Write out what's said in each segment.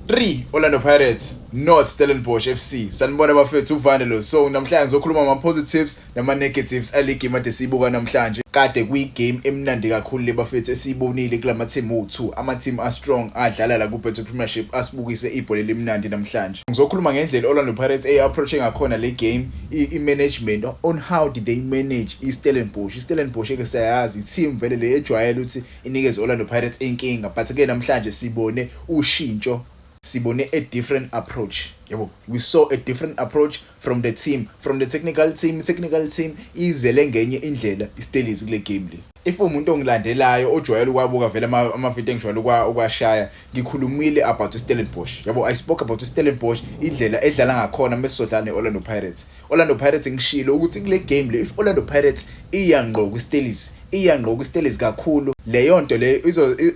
3 Orlando Pirates not Stellenbosch FC sanibona bafethu uvane lo so namhlanje ngizokhuluma ama positives nama negatives aligi made siyibuka namhlanje kade kuyi game emnandi kakhulu le bafethu esiyibonile kulama team u2 ama team a strong adlala la ku Betway Premiership asibukise ibhola elimnandi namhlanje ngizokhuluma ngendlela Orlando Pirates ey approaching ngakhona le game i management on how did they manage i Stellenbosch i Stellenbosch ke siyayazi team vele le ejwayele ukuthi inikeze Orlando Pirates inkinga but ke namhlanje sibone ushintsho sibone a different approach yabo we saw a different approach from the team from the technical team technical team izele ngenye indlela iStellies kule game le if umuntu ongilandelayo ojwayele ukwabuka vele amavidiyo engijwayele ukwashaya ngikhulumile about iStellenbosch yabo i spoke about iStellenbosch indlela edlala ngakhona mesizodlala neOrlando Pirates Orlando Pirates ngishilo ukuthi kule game le if Orlando Pirates iya ngqo kwiStellies iya ngqo kwiStellies kakhulu leyo nto leyo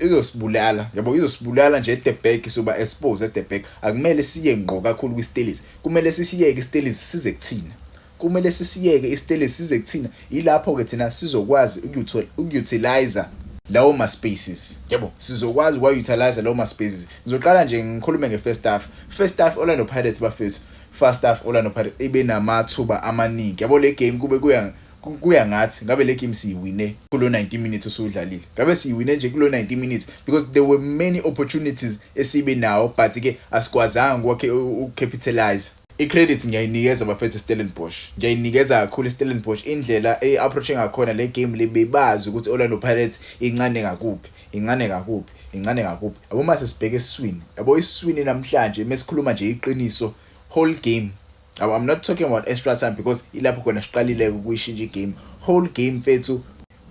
izosibulala yabo izosibulala nje at the back soba exposed at the back akumele siye ngqo kakhulu kwiStellies kumele sisiyeke iStellies size kuthina kumele sisiyeke iStellies size kuthina yilapho ke thina sizokwazi ukutilize lawo ma spaces yebo sizokwazi wa utilize lawo ma spaces ngizoqala nje ngikhulume nge first half first half Orlando Pirates bafethu first half Orlando Pirates ibe namathuba amaningi yabo le game kube kuya kuya ngathi ngabe le game siyiwine kulo 90 minutes usudlalile ngabe siyiwine nje kulo 90 minutes because there were many opportunities esibe nawo but ke asikwazanga kwakhe ucapitalize i-credit ngiyayinikeza bafethu Stellenbosch ngiyayinikeza kakhulu Stellenbosch indlela e-approach ngakhona le game le bebazi ukuthi Orlando Pirates incane ngakuphi Incane ngakuphi? Incane ngakuphi? Yabo uma sesibheka esiswini, yabo isiswini namhlanje mesikhuluma nje iqiniso whole game Yabo I'm not talking about extra time because ilapho khona siqalile ukuyishintsha igame. Whole game mfethu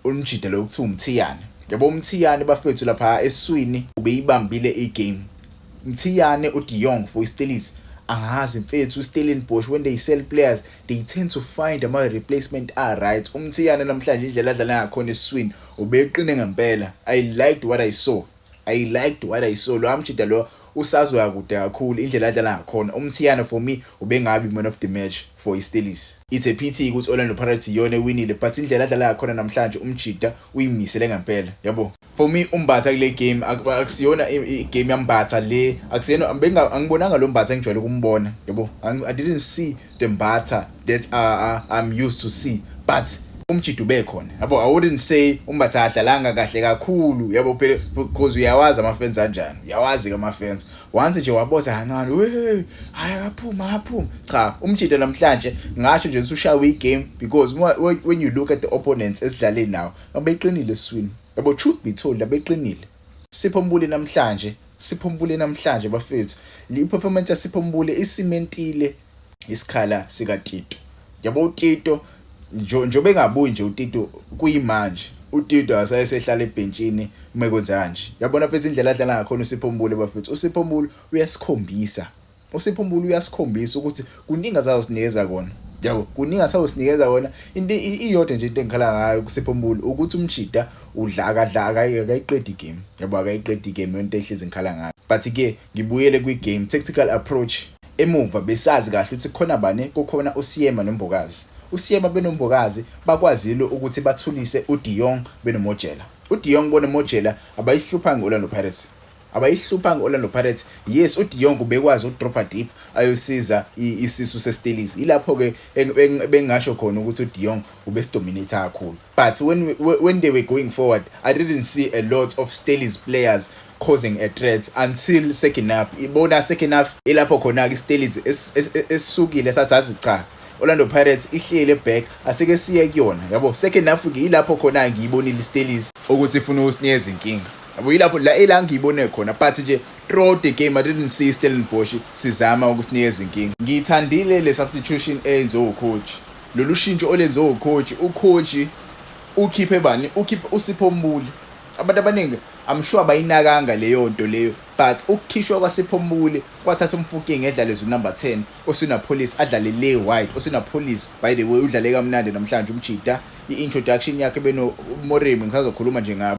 umjida lo kuthiwa umthiyane. Yabo umthiyane bafethu lapha esiswini ubeyibambile igame. Mthiyane uDiyong for iStellies angazi mfethu uStellenbosch when they sell players they tend to find ama replacement a right umthiyane namhlanje indlela adlala ngakhona eswini ubeqine ngempela i liked what i saw i liked what i saw lo amjida lo usazoya kude kakhulu indlela adlala ngakhona umthiyane for me ubengabi man of the match for istelis it's a pity ukuthi orlando pirates iyona ewinile but indlela adlala ngakhona namhlanje umjida uyimisele ngempela yabo for me umbatha kule game akusiyona igame yambatha le akusiyena angibonanga lo mbatha engijwayele ukumbona yabo i didn't see the mbatha that uh, uh, i'm used to see but umjido ubekhona yabo i wouldn't say umbatha adlalanga kahle kakhulu yabo phela because uyawazi amafenzi anjani uyawazi ke amafenzi once nje waboza kancane we hayi akaphuma aphuma cha umjido namhlanje ngasho nje usushawe igame because when you look at the opponents esidlale nawo Abeqinile eswini. Yabo truth be told abeqinile. Sipho Mbule namhlanje, Sipho Mbule namhlanje bafethu. Le performance ya Sipho Mbule isimentile isikhala sika Tito. Yabo uTito njobe engabuyi nje uTito kuyimanje. uTito asayesehlala ebhentshini uma kwenza kanje. Yabona mfethu indlela adlala ngakhona uSipho Mbule bafethu. USipho Mbule uyasikhombisa USipho Mbulu uyasikhombisa ukuthi kuningi azawusinikeza kona yabo kuningi asawusinikeza kona into iyodwa nje into engikhala ngayo kusipho mbulu ukuthi umjida udla akadla akayiqedi game yabo akayiqedi game yonto ehlezi ngikhala ngayo but ke ngibuyele kwi game tactical approach emuva besazi kahle ukuthi khona bani kukhona usiyema nombokazi usiyema benombokazi bakwazile ukuthi bathulise uDion benomojela uDion bonomojela abayihlupha ngolando Pirates abayihluphanga i-orlando pirates yes udiyong ubekwazi ukudropha deep ayosiza isisu sestellies ilapho-ke bengingasho khona ukuthi udiyong ubesidominate kakhulu but when, when they were going forward i didn't see a lot of stellies players causing a threat until second half ibona second half ilapho khona-ke istellies esisukile sathi azi cha Orlando Pirates ihlele back asike siye kuyona yabo second half ke ilapho khona ngiyibonile istellies ukuthi ifuna usinikeza inkinga yabo yilapho la ila ngiyibone khona but nje throughout the game i didn't see stellenbosch sizama ukusinikeza inkinga ngiyithandile le substitution eyenziwe ucoach lolu shintsho olenziwe ucoach ucoach ukhiphe bani ukhiphe usipho mbuli abantu abaningi i'm sure bayinakanga leyo nto leyo but ukukhishwa kwasipho mbuli kwathatha umfuking edlaleza unumber 10 osina police adlale le white osina police by the way udlale kamnandi namhlanje umjida i-introduction yakhe beno moremi ngisazokhuluma nje ngabo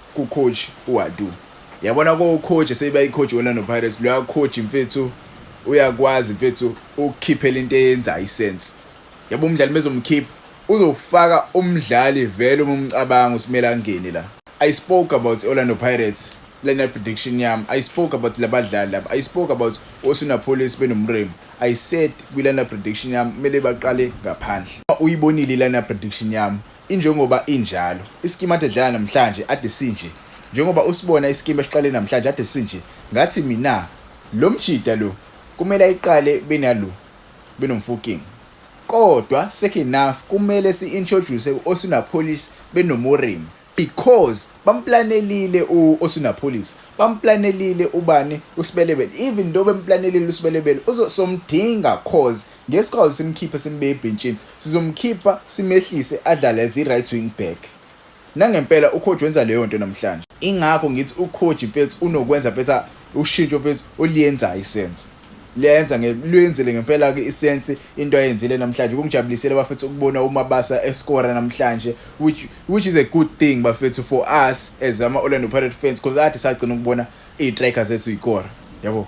Ku coach uAdu. Yabona ko coach seyibayi coach wena no Pirates loya coach mfethu uyakwazi mfethu ukukhiphela into eyenza isense. Yabo umdlali mezomkhipha uzofaka umdlali vele uma umcabanga usimele angene la. I spoke about Orlando Pirates lena prediction yami i spoke about labadlali laba i spoke about osuna police benomremu i said kwilana prediction yami kumele baqale ngaphandle uyibonile ilana prediction yami Injengoba injalo. Isikimu ade dlala namhlanje ade sinje. Njengoba usibona isikimu esiqale namhlanje ade sinje. Ngathi mina lo mjida lo kumele ayiqale benalo benomfoking. Kodwa second enough kumele si introduce uOsunapolis benoMoremi because bamplanelile uOsunapolis. Bamplanelile ubani uSbelebele. Even though bemplanelile uSbelebele uzosomdinga cause Ngesikhawu simkhiphe simbeke ebhentshini sizomkhipha simehlise adlale as i-right wing back. Nangempela uCoach wenza leyo nto namhlanje. Ingakho ngithi uCoach mfethu unokwenza mfethu ushintsho mfethu oliyenzayo iSense. Liyayenza luyenzile ngempela-ke iSense into ayenzile namhlanje. Kungijabulisile bafethu ukubona uMabasa eskora namhlanje which, which is a good thing bafethu for us as ama-Orlando Pirates fans because ade sagcina ukubona iy'trikers zethu yikora. Yabo.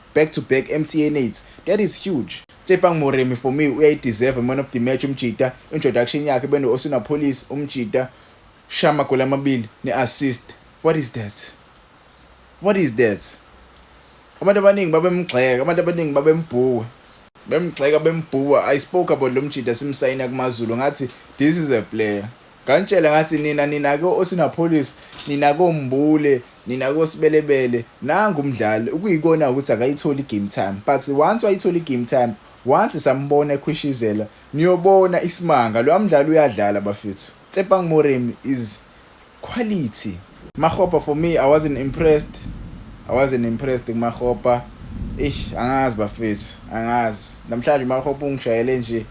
Back to back MTN eights that is huge. Tsepang Moremi for me uyayi deserve man of the match umjita introduction yakhe beno Osuna Police umjita shaya amagoli amabili ne assist what is that what is that abantu abaningi babemgxeka abantu abaningi babembhuka bemgxeka bembhuka i spoke about lo mjita simsayina kumazulu ngathi this is a player Nganitshela ngathi nina nina ko osinapolice nina kombule nina kosibelebele nangu umdlali ukuyikona ukuthi akayitholi game time but once wayitholi game time once sambona ekhwishizela niyobona isimanga lo mdlali uyadlala bafethu Tsepang Moremi is quality Makgopa for me I wasn't impressed. I wasn't impressed kuMakgopa. Eish angazi bafethu, angazi. Namhlanje uMakgopa ungishayele nje.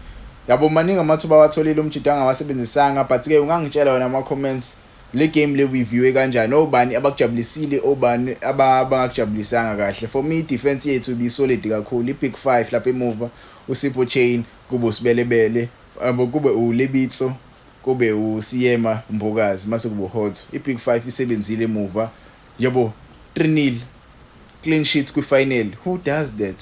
Yabo maningi amathuba awatholile umjita angawasebenzisanga but ke ungangitshela wena ama comments le game le review kanjani obani abakujabulisile obani abangakujabulisanga kahle for me defense yethu ibi solid kakhulu i big 5 lapha emuva uSipho Chain kube usibelebele abo kube uLebitso Kube u Siyema Mbokazi mase kubo Hotso. I Big Five isebenzile emuva yabo 3 nil clean sheet kwi final who does that?